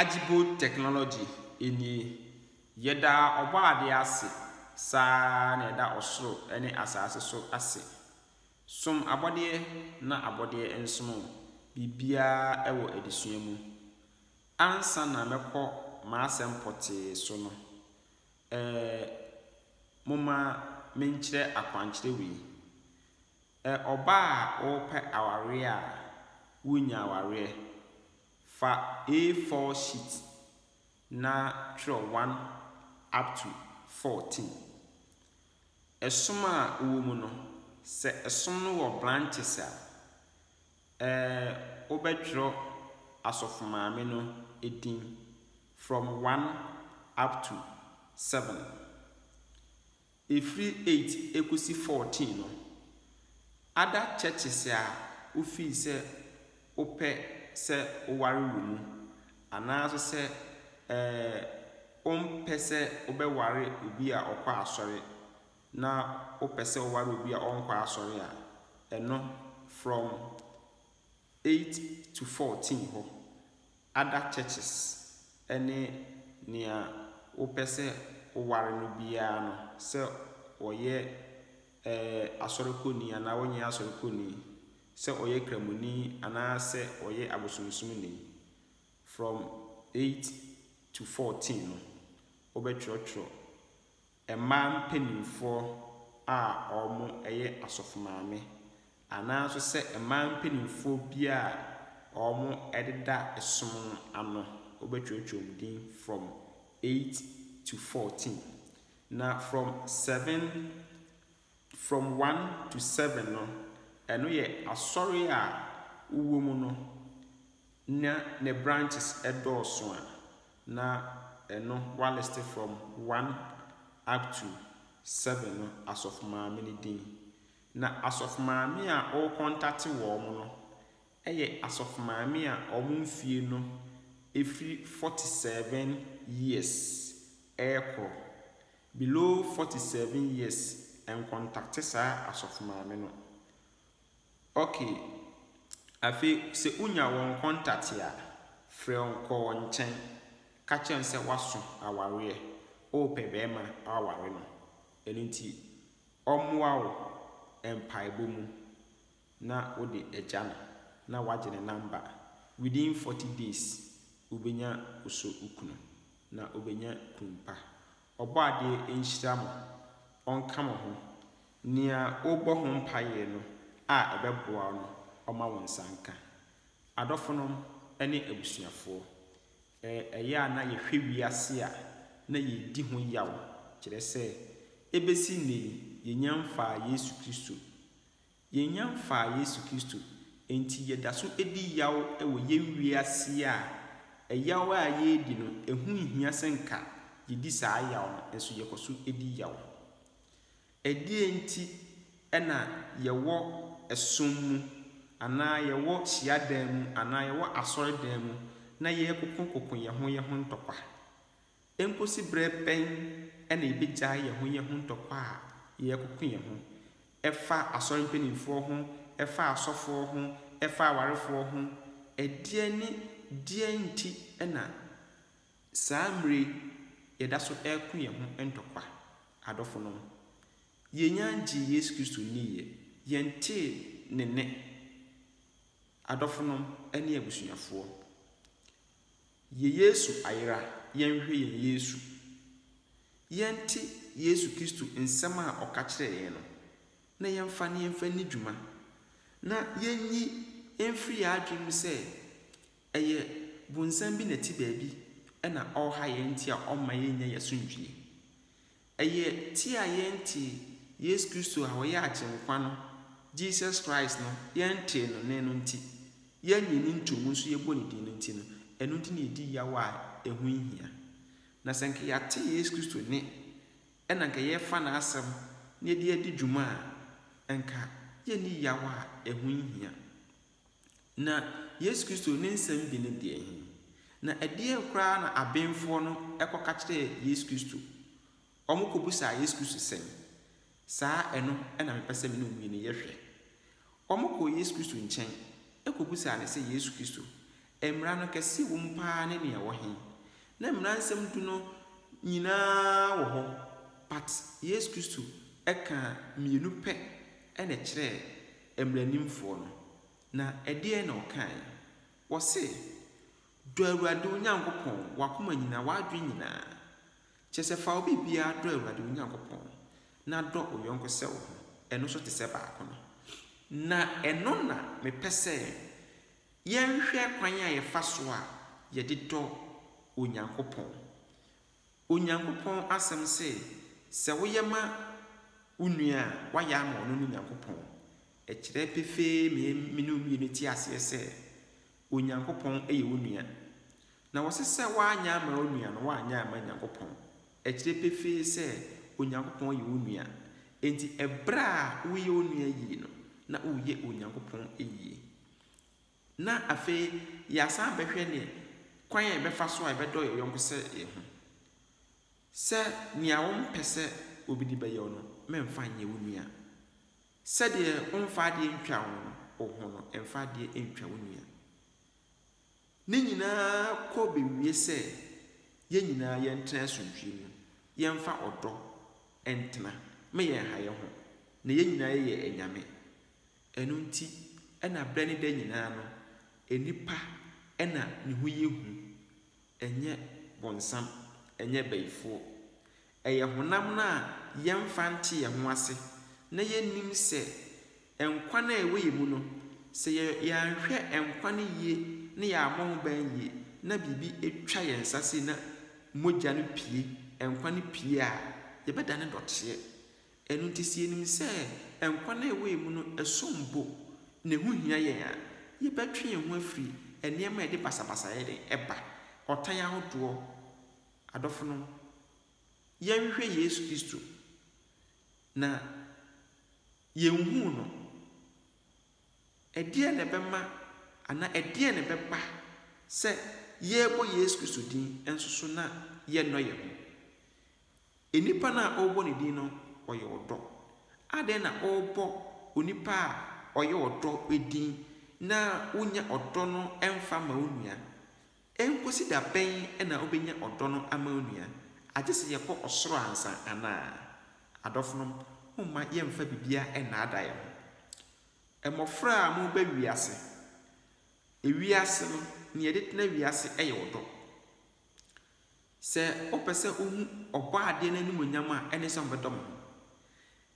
Agibo technology nie. Yɛda Ɔbɔadeɛ ase saa ara na yɛda ɔsoro ne asaase so ase. Som abɔdeɛ na abɔdeɛ nsom wo. Biribiara wɔ adesua mu. Ansa na mɛkɔ m'asɛm pɔtee so no, ɛɛ momma menkyerɛ akwankyerɛ wei. Ɛ Ɔbaa a worepɛ awareɛ a worennya awareɛ, fa A4 sheet na twerɛ 1 up to 14. Ɛsom a ɛwɔ mu no, sɛ ɛsom no wɔ branches a, ɛ wobɛtwerɛ asɔfo maame no din from 1 up to 7. Ɛfiri eight ɛkɔsi fourteen no, ada churches a wo feel sɛ wo pɛ sɛ wo ware wɔ mu, anaa nso sɛ ɛɛ wo mpɛ sɛ wo bɛ ware obi a ɔkɔ asɔre na wo pɛ sɛ wo ware obi a ɔnkɔ asɔre a, ɛno from eight to fourteen hɔ other churches ne nea wopɛ sɛ woware no biara no, sɛ ɔyɛ ɛɛ Asɔre kɔni anaa ɔnyɛ Asɔre kɔni, sɛ ɔyɛ Kramoni anaa sɛ ɔyɛ abosomsomni, from eight to fourteen no, wobɛtwerɛtwerɛ. Mmaa mpanimfoɔ a wɔyɛ asɔfomaame anaa nso sɛ mmaa mpanimfoɔ bi a wɔdeda som no ano, wobɛtwerɛtwerɛ wɔn din from eight to fourteen. Na from seven, from one to seven no, ɛno yɛ asɔre a wowɔ mu no Na ne branches dɔɔso a, na ɛno wɔaliste from one up to seven no asɔfomaame no din. Na asɔfomaame a ɔrekɔntate wɔn no yɛ asɔfomaame a wɔn mfie no firi forty seven years rekɔ. Below forty seven years, nkɔntate saa asɔfomaame no. Okay. Afei sɛ wonya wɔn contact a, frɛ wɔn kɔ wɔn nkyɛn ka kyerɛ no sɛ woaso awareɛ, worepɛ barima aware no. Ɛno nti ɔmmoa wo mpaebɔ mu na wode agya no na woagye ne number. Within 40 days wobɛnya wo so wo kunu na wobɛnya kunu pa. Ɔbɔadeɛ nhyira mo, ɔnka mo ho. Nea worebɔ ho mpaeɛ no a ɛbɛboa wo no, ɔma wo nsa nka. Adɔfonom ne abusuafoɔ, ɛ, ɛyɛ a na yɛhwɛ wiase a na yɛredi ho yaw, kyerɛ sɛ, ɛbɛsi nnɛ yi, yɛnnya mfaa Yesu Kristo. Yɛnnya mfaa Yesu Kristo, enti yɛda so di yaw wɔ yɛn wiase a ɛyaw a yɛredi no, ɛho nhia sɛ nka yedi saa yaw no, nso yɛkɔ so di yaw. Ɛdeɛn nti na yɛwɔ som mu anaa yɛwɔ hyiadan mu anaa yɛwɔ asɔredan mu na yɛrekokokoko yɛn ho yɛn ho ntɔkwa? Enkosi bere bɛn na yebegyae yɛn ho yɛn ho ntɔkwa a yɛrekɔko yɛn ho? Ɛfa asɔre mpanimfoɔ ho, ɛfa asɔfoɔ ho, ɛfa awarefoɔ ho, ɛdeɛn ne deɛn nti na saa mmerɛ yi yɛda so reko yɛn ho ntɔkwa? Adɔfonom, yɛnnya ngyee Yesu Kristo nniiɛ, yɛntee Ne nne. Adɔfonom ne abusuafoɔ. Yɛ Yesu ayera yɛnhwɛ yɛn Yesu. Yɛnte Yesu Kristo nsɛm a ɔka kyerɛɛ yɛn no, na yɛmfa no yɛmfa nni dwuma, na yɛnyi mfiri yɛn adwene mu sɛ ɛyɛ bonsam bi na ɛte baabi na ɔreha yɛn nti a ɔmma yɛnnya yɛn asomdwie. Ɛyɛ ti a yɛntee Yesu Kristo a ɔyɛ Agyenkwa no, Jesus Christ no, yɛntee no nnɛ no nti, yɛannye ne ntomu nso yɛbɔ ne din no nti no, ɛno nti na yɛdi yaw a ɛho nhia. Na sɛ anka yɛate Yesu Kristo nne, ɛna anka yɛrefa n'asɛm na yɛde adi dwuma a, anka yɛnni yaw a ɛho nhia. Na Yesu Kristo ne nsɛm bi ne deɛ he? Na ɛdeɛn koraa na abenfoɔ no kɔka kyerɛɛ Yesu Kristo? Wɔkɔbisaa Yesu Kristo sɛ, Saa ɛno na mepɛ sɛ me ne owie no yɛ hwɛ. Wɔkɔɔ Yesu Kristo nkyɛn kɔbisaa no sɛ, Yesu Kristo, mmara no kɛseɛ wom paa ne nea ɛwɔ he? Na mmara nsɛm du no nyinaa wɔ hɔ, but Yesu Kristo kaa mmienu pɛ na ɛkyerɛɛ mmaranimfoɔ no, na ɛdeɛn na ɔkaae? Ɔse, Dɔ Awurade wo Nyankopɔn w'akoma nyinaa, w'adwene nyinaa. Kyerɛ sɛ, fa wo biribiara dɔ Awurade wo Nyankopɔn, na dɔ wo yɔnko sɛ wo ho, ɛno nso te sɛ baako no. Na ɛno na mepɛ sɛ yɛhwɛ kwan a yɛfa so a yɛde dɔ Onyankopɔn. Onyankopɔn Asɛm se, Sɛ woyɛ ma wo nua a, woayɛ ama ɔno ne Nyankopɔn. Ɛkyerɛ pefee nea me ne wo mmienu te aseɛ sɛ, Onyankopɔn yɛ wo nua. Na wɔse sɛ woanyɛ ama wo nua no, woanyɛ amma Nyankopɔn. Ɛkyerɛ pefee sɛ, Onyankopɔn yɛ wo nua. Enti ɛberɛ a woreyɛ wo nua yie no, na woreyɛ Onyankopɔn yie. na afei yɛasan abɛhwɛ ne kwan a yɛbɛfa so a yɛbɛdɔ yɛn yɔnko sɛ yɛn ho. Sɛ nea wompɛ sɛ obi de bɛyɛ wo no, mɛmfa nyɛ wo nua. Sɛdeɛ womfa adeɛ ntwa wo ho no, mfa adeɛ ntwa wo nua. Ne nyinaa kɔ bɛwie sɛ yɛn nyinaa yɛntena asomdwoeɛ mu, yɛmfa ɔdɔ ntena, ma yɛnha yɛn ho, na yɛn nyinaa yɛyɛ anyame. Ɛno nti na berɛ ne da nyinaa no, nnipa na ne ho yɛ hu, ɛnyɛ bonsam, ɛnyɛ bayifoɔ. Ɛyɛ honam no a yɛmfa nte yɛn ho ase na yɛnnim sɛ nkwa no a ɛwɔ yɛn mu no, sɛ yɛanhwɛ nkwa no yie na yɛammɔ ho ban yie na biribi twa yɛn nsa sei na mogya no pue, nkwa no pue a, yɛbɛdane dɔteɛ. Ɛno nti, sɛ yenim sɛ nkwa a ɛwɔ yɛn mu no som bo na ɛho hia yɛn a, yɛbɛtwe yɛn ho afiri nneɛma a ɛde basabasayɛ de ba, ɔtan ahodoɔ. Adɔfonom, yɛnhwehwɛ Yesu Kristo, na yɛnhuu no. Ɛdeɛn na ɛbɛma anaa ɛdeɛn na ɛbɛba sɛ yɛrebɔ Yesu Kristo din nso so na yɛnnɔ yɛn ho? Nnipa no a ɔrebɔ ne din no, ɔyɛ ɔdɔ. Adɛn na ɔrebɔ onipa a ɔyɛ ɔdɔ din na wonnya ɔdɔ no mfa mma wo nua? Enkosi da bɛn na wobenya ɔdɔ no ama wo nua? Agye sɛ yɛkɔ ɔsoro ansa anaa? Adɔfonom, momma yɛmmfa biribiara nnaadaa yɛn ho. Mmofra a moreba wiase, wiase no, nea ɛde tena wiase yɛ ɔdɔ. Sɛ wopɛ sɛ wuhu Ɔbɔadeɛ no animuonyam a, ɛne sɛ ɔbɛdɔ mo.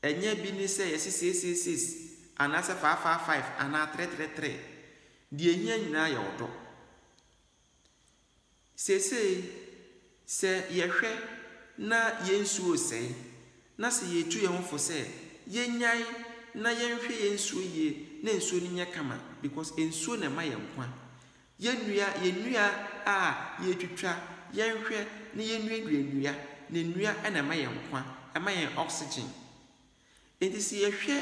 Ɛnyɛ bi ne sɛ yɛse seiseiseiss anaasɛ faafaafaef anaa trɛtrɛtrɛ. Deɛ ɛhia nyinaa yɛ ɔdɔ. Seesei, sɛ yɛhwɛ na yɛn nsuo resɛe, na sɛ yɛretu yɛn ho fo sɛ, Yɛnnyae na yɛnhwɛ yɛn nsuo yie na nsuo no nyɛ kama because nsuo na ɛma yɛn nkwa. Yɛnnua yɛn nnua a yɛretwitwa, yɛnhwɛ na yɛnnuadua nnua, na nnua na ɛma yɛn nkwa, ɛma yɛn oxygen. Enti sɛ yɛhwɛ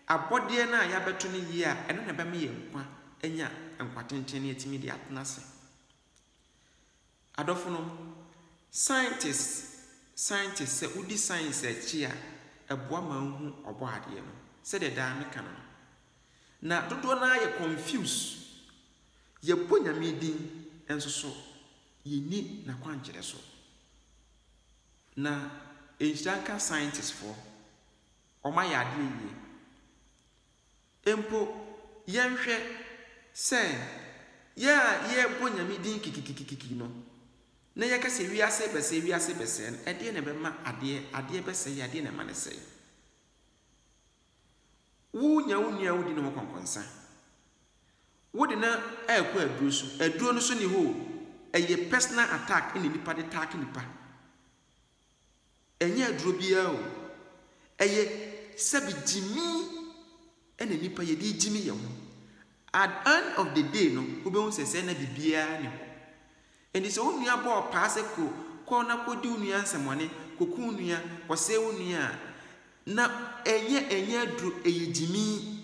abɔdeɛ no a yɛabɛto no yie a, ɛno na ɛbɛma yɛn nkwa anya nkwa tenten na yɛatumi de atena ase. Adɔfonom, scientists scientists sɛ wodi science akyi a ɛboa ma wohu Ɔbɔadeɛ no, sɛdeɛ daa meka no no. Na dodoɔ no ara yɛ confuse, yɛbɔ Nyame din nso so yɛnni N'akwankyerɛ so. Na nhyira nka scientists foɔ, wɔayɛ adeɛ yie. Mpo yɛnhwɛ sɛ yɛn a yɛbɔ Nyame din kikikikiki no, na yɛka sɛ wiase bɛsɛe, wiase bɛsɛe no, ɛdeɛn na ɛbɛma adeɛ, adeɛ bɛsɛe, adeɛn na ɛma no sɛe? Wo nya wo nua a wodi ne ho kɔnkɔnsa, wo de no ɛɛkɔ aduro so, aduro no so ne hɔ o, ɛyɛ personal attack na nipa de taake nipa. Ɛnyɛ aduro biara o. Ɛyɛ sɛbe gyimi ɛna nnipa yɛde regyimi yɛn ho. At end of the day no, wobɛhu sɛ sɛɛ na biribiara nni hɔ. Enti sɛ wo nua bɔ ɔpaa sɛ kɔ kɔ na kɔdi wo nua nsɛmɔne, kɔku wo nua, kɔsɛe wo nua a, na ɛnyɛ ɛnyɛ aduro, ɛyɛ gyimi.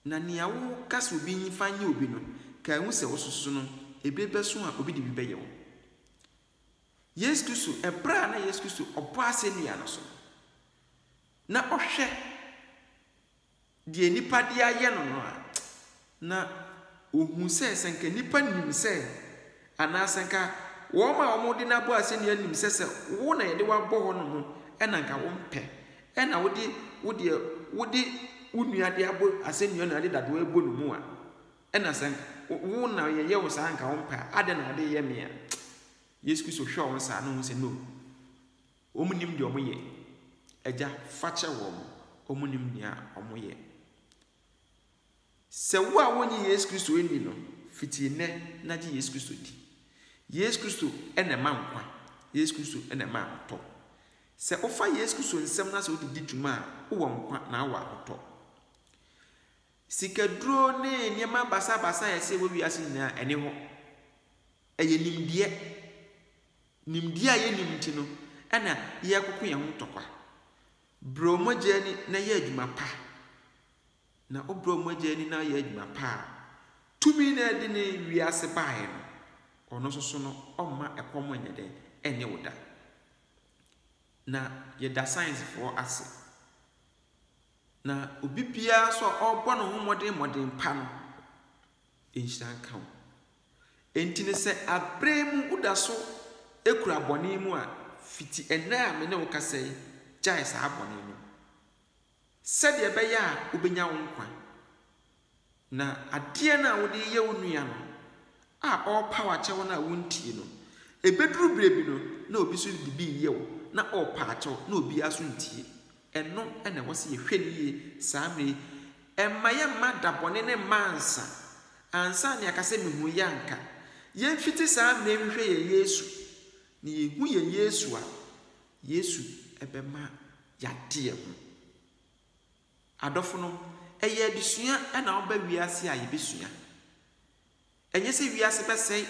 Na nea woka sɛ obi nyi fa nyɛ obi no, kae hu sɛ wososo no, ɛbi bɛso a obi de bi bɛyɛ wo. Yesu Kristo, ɛberɛ a na Yesu Kristo ɔbɔ asɛnnua no so, na ɔhwɛ deɛ nnipa de ayɛ no no a, na ɔhu sɛ sɛ nka nnipa nim sɛ, anaasɛ nka wɔn a wɔde no abɔ asɛnnua nim sɛ sɛ wo na yɛde wabɔ hɔ nom ɛna nka wompɛ, ɛna wode wodeɛ wode wo nua de abɔ asɛnnua no ade dadoɔ ɛbɔ no mu a. Ɛna sɛ nka wo na yɛyɛ wo saa nka wo mpɛ a, adɛn na wode yɛ me a? Yesu Kristo hwɛ wɔn saa na wɔn sɛ no. Wɔn nim deɛ wɔn yɛ. Agya, fa kyɛ wɔn. Wɔn nim nea wɔn yɛ. Sɛ wo a wonyi Yesu Kristo nni no, fiti nnɛ na gye Yesu Kristo di. Yesu Kristo na ɛma nkwa. Yesu Kristo na ɛma ahotɔ. Sɛ wofa Yesu Kristo nsɛm no sɛ wode di dwuma a, wowɔ nkwa na wowɔ ahotɔ. Sikaduro ne nneɛma basabasa a ɛsɛ wɔ wiase nyinaa, ɛne hɔ. Ɛyɛ nimdeɛ. Nimdeɛ a yɛnnim nti no na yɛkoko yɛn ho ntɔkwa. Brɛ wo mogya ani na yɛ adwuma pa. Na wobrɛ wo mogya ani na woyɛ adwuma pa a, tumi no a ɛde ne wiase baeɛ no, ɔno nso so no, ɔmma ɛkɔm nyɛ dɛn? Ɛnne wo da. Na yɛda sciencefoɔ ase. Na obi biara nso a ɔrebɔ ne ho mmɔden mmɔden pa no, nhyira nka wo. Enti no sɛ abrɛ mu woda so kura bɔne mu a, fiti ɛnnɛ a me ne wo kasa yi, gyae saa bɔne no. Sɛdeɛ ɛbɛyɛ a wobɛnya wo nkwa. Na adeɛ no a wode reyɛ wo nua no, a ɔrepaw akyɛ wo no a wontie no, ɛbɛduru berɛ bi no, na obi nso de bi reyɛ wo, na ɔrepa akyɛ wo, na obiara nso ntie. Ɛno na ɛwɔ sɛ yɛhwɛ no yie saa mmerɛ yi. Mma yɛmma da bɔne no mma ansa, ansa na yɛaka sɛ mehunuiɛ a anka. Yɛmfiti saa mmerɛ yi nhwehwɛ yɛn Yesu, na yɛhu yɛn Yesu a, Yesu bɛma yɛade yɛn ho. Adɔfonom, ɛyɛ adesua na ɔba wiase a yɛbɛsua. Ɛnyɛ sɛ wiase bɛsɛe,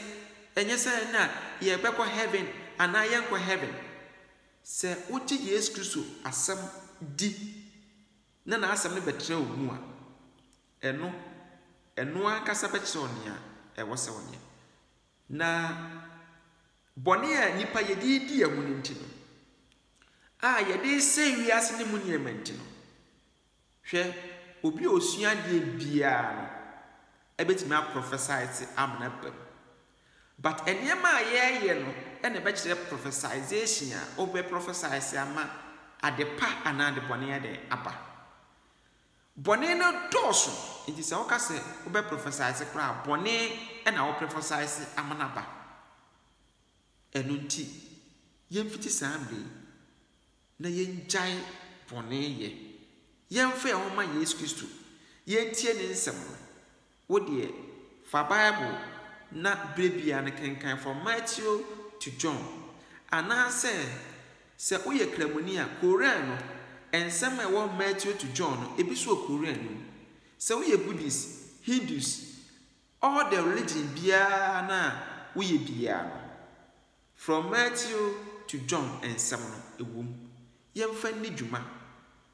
ɛnyɛ sɛ na yɛbɛkɔ heaven anaa yɛnkɔ heaven. Sɛ wogye Yesu Kristo asɛm di na n'asɛm no bɛtra wo mu a, ɛno, ɛno ankasa bɛkyerɛ wo nea ɛwɔ sɛ wonyɛ. Na bɔne a nnipa yɛ de redi yɛn ho no nti no, a yɛde resɛe wiase no mu nneɛma nti no, hwɛ, obi a osua adeɛ biara no ɛbɛtumi aprɔfɛsae te amena ba mu. But nneɛma a yɛreyɛ no na ɛbɛkyerɛ prophesization a wobɛprɔfɛsae se ama ade pa anaa ade bɔne adɛn aba. Bɔne no dɔɔso, enti sɛ woka sɛ wobɛprɔfɛsaese koraa a, bɔne na woprɛfɔsaese ama no aba. Ɛno nti, yɛmfiti saa mmerɛ yi na yɛngyae bɔne yɛ. Yɛmfa yɛn ho mma Yesu Kristo, yɛntie Ne nsɛm no, Wo deɛ, fa Bible na berɛ biara no kenkan From Matthew to John. Anaasɛ, sɛ woyɛ Kramoni a, Koran no, nsɛm a ɛwɔ Matthew to John no, ebi nso wɔ Koran no mu. Sɛ woyɛ Buddhist, Hindus, all the religion biara no a woyɛ biara no, From Matthew to John nsɛm no, ɛwom, yɛmfa nni dwuma,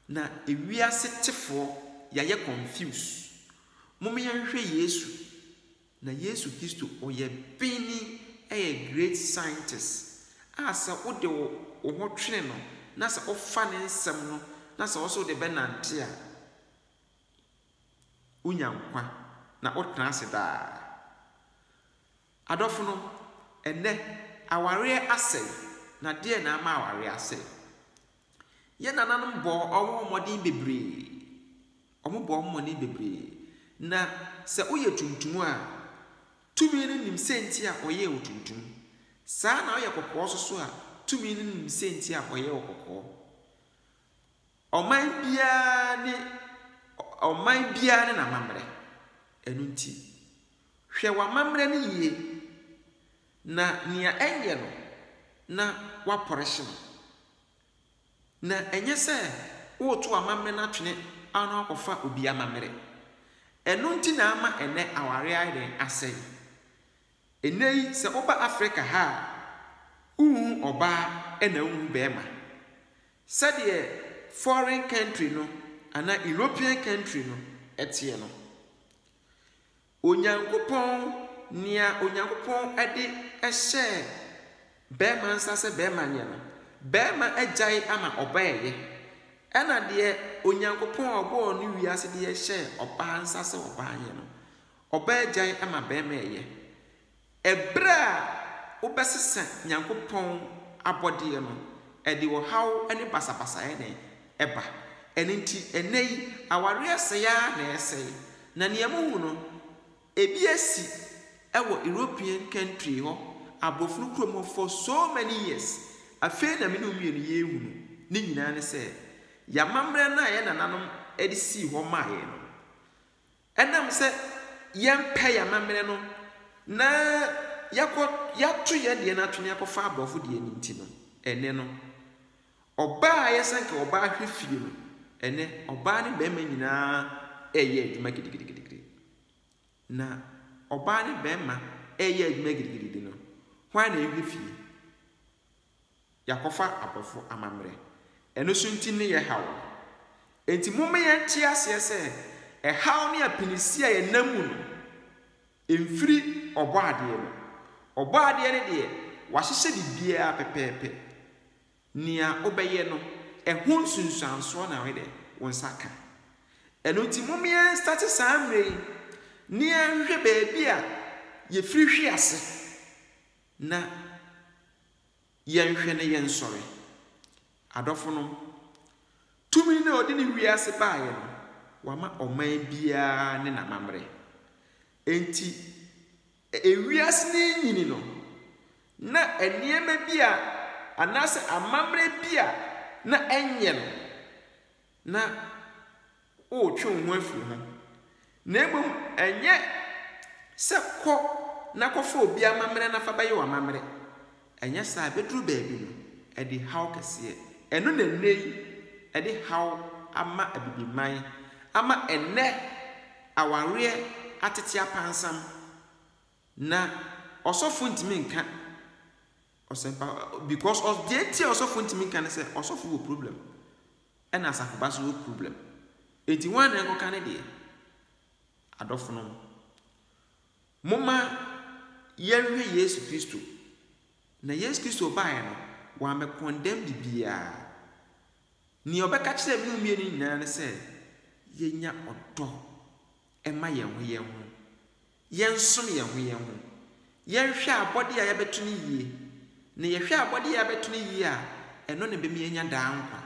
na ewiase tefoɔ yɛayɛ confuse. Mom yɛnhwɛ Yesu, na Yesu Kristo ɔyɛ Benni, ɛyɛ great scientist, a sɛ wode wo wo ho twene no na sɛ wofa ne nsɛm no na sɛ wose wode bɛnante a, wonya nkwa na wotena ase daa. Adɔfonom, ɛnnɛ, awareɛ asɛe, na deɛn na ama awareɛ asɛe? Yɛn nananom bɔɔ wɔn ho mmɔden bebree, wɔn bɔɔ wɔn mmɔden bebree, na sɛ woyɛ tuntum a, tumi no nim sɛnti a ɔyɛɛ wo tuntum, saa ara na woyɛ kɔkɔɔ nso so a, tumi no nim sɛnti a ɔyɛɛ wo kɔkɔɔ. Ɔman biara ne ɔman biara ne n'amammerɛ. Ɛno nti, hwɛ w'amammerɛ no yie, na nea ɛnyɛ no na woapɔrehye no, na ɛnyɛ sɛ woreto amammerɛ no atwene ano akɔfa obi amammerɛ. Ɛno nti na ama ɛnnɛ aware ayɛ dɛn? Asɛe. Ɛnnɛ yi, sɛ woba Afrika ha a, wonhu ɔbaa na wonhu barima. Sɛdeɛ foreign country no anaa European country no teɛ no, Onyankopɔn, nea Onyankopɔn de hyɛɛ barima nsa sɛ barima nyɛ no, barima agyae ama ɔbaa reyɛ, ɛna deɛ Onyankopɔn a ɔbɔɔ ne wiase deɛ hyɛɛ ɔbaa nsa sɛ ɔbaa nyɛ no, ɔbaa agyae ama barima reyɛ. Ɛberɛ a wobɛsesa Nyankopɔn abɔdeɛ no, ɛde ɔhaw ne basabasayɛ na ɛba. Ɛno nti, ɛnnɛ yi, awareɛ sɛe ara na ɛresɛe. Na nea mohu no, ɛbi asi wɔ European country hɔ, aborɔfno kurom hɔ for so many years. Afei na me ne wo mmienu yɛrehu no. Ne nyinaa ne sɛ, yɛn amammerɛ no a yɛn nananom de sii hɔ maa yɛn no, Ɛnam sɛ yɛmpɛ yɛn amammerɛ no na yɛakɔ, yɛato yɛn deɛ no ato na yɛakɔfa aborɔfo deɛ no nti no, ɛnnɛ no, ɔbaa a ɛyɛ sɛ nka ɔbaa hwɛ fie no, ɛnnɛ ɔbaa ne barima nyinaa reyɛ adwuma gidigidigidi. Na ɔbaa ne barima reyɛ adwuma gidigidigidi no, hwan na ɛhwɛ fie? Yɛakɔfa abɔfo amammerɛ. Ɛno so nti ne yɛ haw no. Enti momma yɛnte aseɛ sɛ ɛhaw ne apinisi a yɛnam mu no mfiri Ɔbɔadeɛ no. Ɔbɔadeɛ no deɛ, wahyehyɛ biribiara pɛpɛɛpɛ. Nea wobɛyɛ no, ɛho nsunsuansoɔ na woyɛ dɛn? Wo nsa ka. Ɛno nti momma yɛnstate saa mmerɛ yi na yɛnhwehwɛ baabi a yɛfiri hwe ase. Na yɛnhwɛ na yɛnsɔre. Adɔfonom, tumi no a ɔde ne wiase baeɛ no, wama ɔman biara ne n'amammerɛ. Enti, ewiase no renyini no, na nneɛma bi a, anaasɛ amammerɛ bi a na ɛnyɛ no, na woretwe wo ho afiri ho, na mmom ɛnyɛ sɛ kɔ na kɔfa obi amammerɛ na fa bɛyɛ w'amammerɛ. Anyɛ saa a, ɛbɛduru baabi no, ɛde haw kɛseɛ. Ɛno na nnɛ yi ɛde haw ama Abibiman ama ɛnnɛ awareɛ atete apansam. Na ɔsɔfo ntumi nka ɔsɛmpa because ɔs deɛ nti a ɔsɔfo ntumi nka ne sɛ ɔsɔfo wɔ problem ɛna asafo ba so wɔ problem eti wɔn anan kɔka ne deɛ adɔfo no moma yɛnhwɛ yesu kristo na yesu kristo baeɛ no wɔamɛ condemn bibiara nea ɔbɛka kyerɛ me mmienu nyinaa ne sɛ yɛnya ɔdɔ ɛma yɛn ho yɛn ho yɛnsom yɛn ho yɛn ho, yɛnhwɛ abɔde a yɛabɛto no yie, na yɛhwɛ abɔde a yɛabɛto no yie a, ɛno na ɛbɛma yɛanya daa nkwa.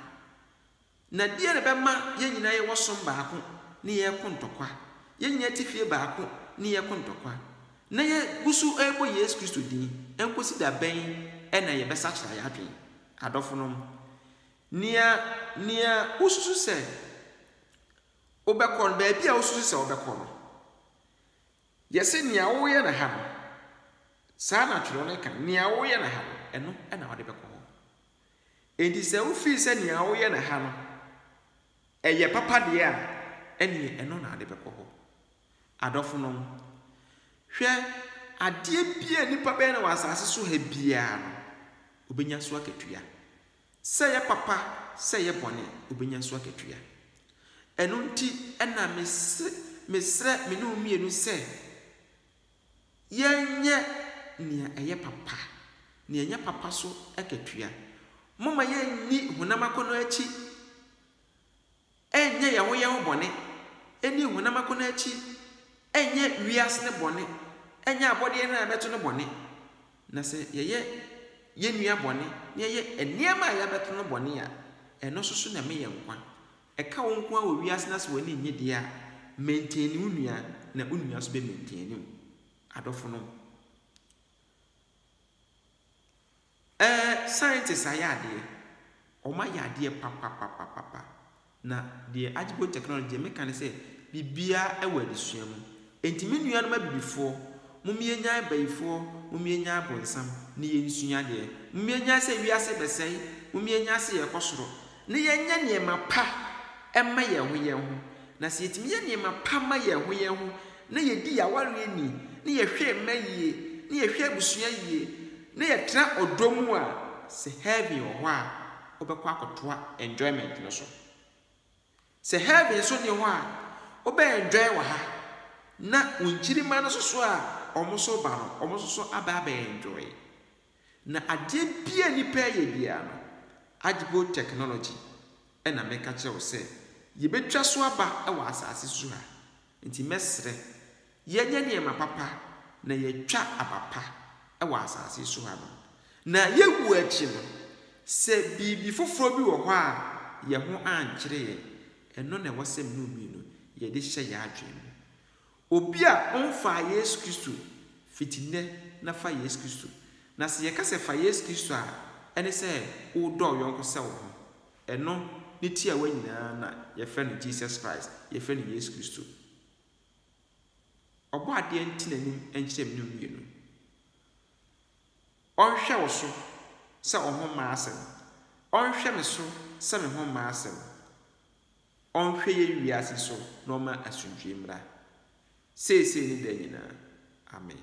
Na deɛn na ɛbɛma yɛn nyinaa yɛwɔ som baako na yɛreko ntɔkwa, yɛn nyinaa te fie baako na yɛreko ntɔkwa, na yɛgu so rebɔ Yesu Kristo din? Ɛnkɔsi da bɛn na yɛbɛsakyera yɛn adwene? Adɔfonom, nea, nea wosusu sɛ Wobɛkɔ no, baabi a wosusu sɛ wobɛkɔ no, yɛ sɛ nea woreyɛ no ha no. Saa na twerɛ no ka no. Nea woreyɛ no ha no, ɛno na wode bɛkɔ hɔ. Enti sɛ wofii sɛ nea woreyɛ no ha no, ɛyɛ papa deɛ a, ɛneɛ ɛno na wode bɛkɔ hɔ. Adɔfonom, hwɛ, adeɛ biara a nnipa bɛyɛ no wɔ asase so ha biara no, wɔbɛnya so akatua. Sɛ ɛyɛ papa, sɛ ɛyɛ bɔne, obenya so akatua. Ɛno nti na mese mesrɛ me ne wo mmienu sɛ yɛnyɛ nea ɛyɛ papa, nea ɛnyɛ papa so akatua. Momma yɛnni honam akɔnnɔ akyi. Ɛnyɛ yɛn ho yɛn ho bɔne, ɛnni honam akɔnnɔ akyi, ɛnyɛ wiase no bɔne, ɛnyɛ abɔdeɛ no a yɛbɛto no bɔne. Na sɛ yɛyɛ yɛn nua bɔne na yɛyɛ nneɛma a yɛabɛto no bɔne a, ɛno nso so na ɛma yɛn nkwa. Ɛka wo nko ara wɔ wiase no ase w'ani nnye deɛ a, maintain wo nua na wo nua nso bɛ maintain wo. Adɔfonom. Ɛɛ scientist ayɛ adeɛ. Wɔn ayɛ adeɛ papapapapa. Na deɛ Agyepo technology deɛ meka ne sɛ biribiara wɔ adesua mu. Enti me nuanom abibifoɔ, mom yɛnyae bayifoɔ, mom yɛnyae bonsam na yɛnsua adeɛ. Mom yɛnyae sɛ wiase rebɛsɛe, mom yɛnyae sɛ yɛrekɔ soro. Na yɛnyɛ nneɛma pa mma yɛn ho yɛn ho. Na sɛ yɛtumi yɛ nneɛma pa ma yɛn ho yɛn ho, na yɛdi yɛn awareɛ ni, na yɛhwɛ mma yie, na yɛhwɛ abusua yie, Na yɛtra ɔdɔ mu a sɛ heaven wɔ hɔ a wobɛkɔ akɔtoa enjoyment no so. Sɛ heaven nso nni hɔ a wobɛ enjoy wɔ ha na wo nkyirimma no nso so a wɔn nso reba no wɔn nso so aba abɛ enjoy. Na adeɛ biara nnipa reyɛ biara no agbo technology na meka kyerɛ wo sɛ yɛbɛtwa so aba wɔ asaase su ha. Enti mɛsrɛ, yɛnyɛ nneɛma papa na yɛatwa aba pa wɔ asase so ha no, na yɛwu akyi no, sɛ biribi foforɔ bi wɔ hɔ a yɛn ho ankyere yɛn, ɛno na ɛwɔ sɛ mo mmienu yɛde hyɛ yɛn adwene mu. Obi a ɔmfaa Yesu Kristo, fiti nnɛ na fa Yesu Kristo. Na sɛ yɛka sɛ fa Yesu Kristo a, ɛne sɛ wodɔ wo yɔnko sɛ wo ho. Ɛno ne tiawa nyinaa na yɛfrɛ no Jesus Christ, yɛfrɛ no Yesu Kristo. Ɔbɔadeɛ nte n'anim nkyerɛ mmere mmienu. Ɔnhwɛ wo so sɛ wo ho mma asɛm. Ɔnhwɛ me so sɛ me ho mma asɛm. Ɔnhwɛ yɛn wiase so na ɔmma asomdwoe mmra, seesei ne daa nyinaa. Amen.